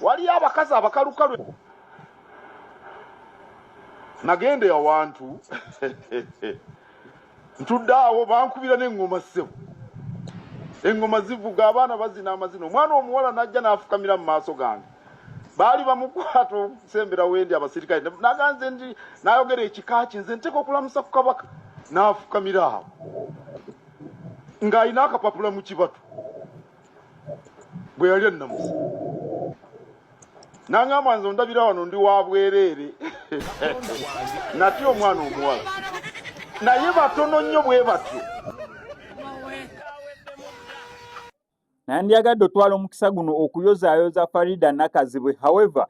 waliyo abakazi abakalukalu nagenda ewantu ntudde awo bankubira neŋŋoma ssebo eŋŋoma zivuga abaana bazina amazina omwana omuwala n'ajja n'afukamira mu maaso gange baali bamukwata okusembera wendi abasirikale naganze ndi nayogera ekika ki nze nteeka okulamusa ku kabaka n'afukamira awo ng'alina akapapula mu kibatu bwe yali ennamusa nangamba nze ondabira wano ndi wa bwereere nati omwana omuwala naye batono nnyo bwe batyo nandyagadde otwala omukisa guno okuyozaayoza farida nakazibwe however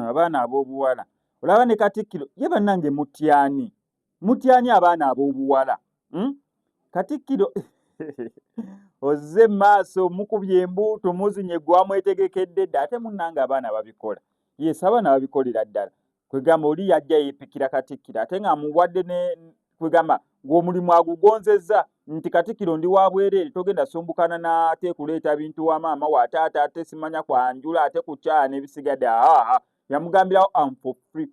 abaana ab'obuwala olaba ne katikkiro ye bannange mutyani mutyani abaana ab'obuwala hmm? katikkiro ozze maaso mukubye embuuto muzinye gwamwetegekedde dda ate munnanga abaana babikola yes abaana babikolera ddala kwegamba oli yajja yeepikira katikkiro ate nga muwadde ne kwegamba ng'omulimu agugonzezza nti katikkiro ndi wa bwereere togenda sumbukana naate kuleeta bintu wa maama wa taata ate simanya kwanjula ate kukyana ebisigadde aa yamugambirawo am for free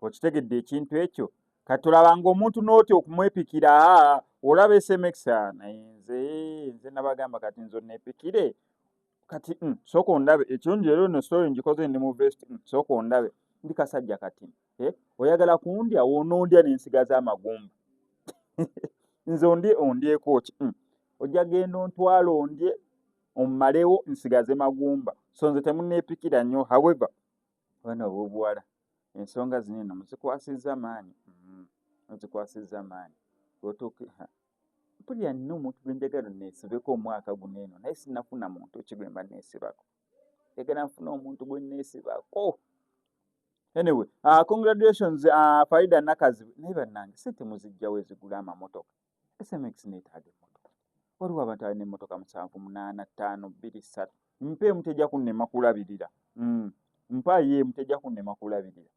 okitegedde ekintu ekyo kati olabanga omuntu n'otya okumwepikira olaba sms naye nze nze nabagamba kati nze onepikire kati mm, sooka ondabe ekirungi leero no story ngikoze ndi mu vest mm, sooka ondabe ndi kasajja kati eh, oyagala kundya wonoondya nensigaza amagumba nze ondye ondyekoki mm, ojja genda ontwala ondye ommalewo nsigaze magumba so nze temunepikira nnyo however Abaana ab'obuwala ensonga zino eno muzikwasizza maanyi mm, muzikwasizza maanyi otuuke mpulira nina omuntu gwe njagala neesibeko omwaka guno eno naye sinafuna muntu ki gwe mba neesibako njagala nfuna omuntu gwe neesibako anyway uh, congratulations uh, ah, faida nakazibu naye bannange sente muzijjawo ezigula amamotoka SMX neetaaga emmotoka. Waliwo abantu alina emmotoka musanvu munaana ttaano bbiri ssatu mpa emu tejja kunnema kulabirira mm. mpa ye emu tejja kunnema kulabirira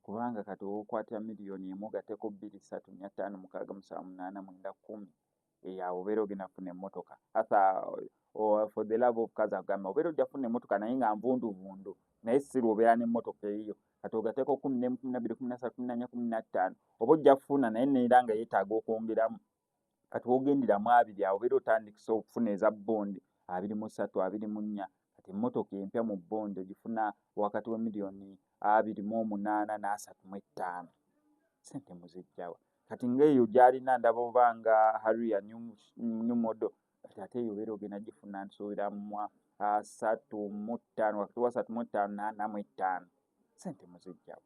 kubanga kati owokwatira miliyoni emu ogateko bbiri ssatu nya ttaano mukaaga musanvu munaana mwenda kkumi eyawo obeera ogenda kufuna emmotoka asa oh, for the love of kazi agamba obeera ojja kufuna emmotoka naye nga nvunduvundu naye sirwa obeera n'emmotoka eyiyo kati ogateeko kumi nemu kumi nabbiri kumi nasatu kumi nanya kumi nattaano oba ojja kufuna naye neera nga yeetaaga okwongeramu kati wogendera mu abiri awo obeera otandikisa okufuna eza bondi abiri mu ssatu abiri mu nnya kati emmotoka empya mu bondi ogifuna wakati wa miliyoni abiri mu omunaana n'asatu mu ettaano sente muzijjawa kati ngaeyo gyalina ndaba oba nga haria new model kati ate eyo obeera ogenda gifuna nsuubira mu asatu mu ttaano wakati wasatu mu ttaano n'ana mu ettaano sente muzijjawo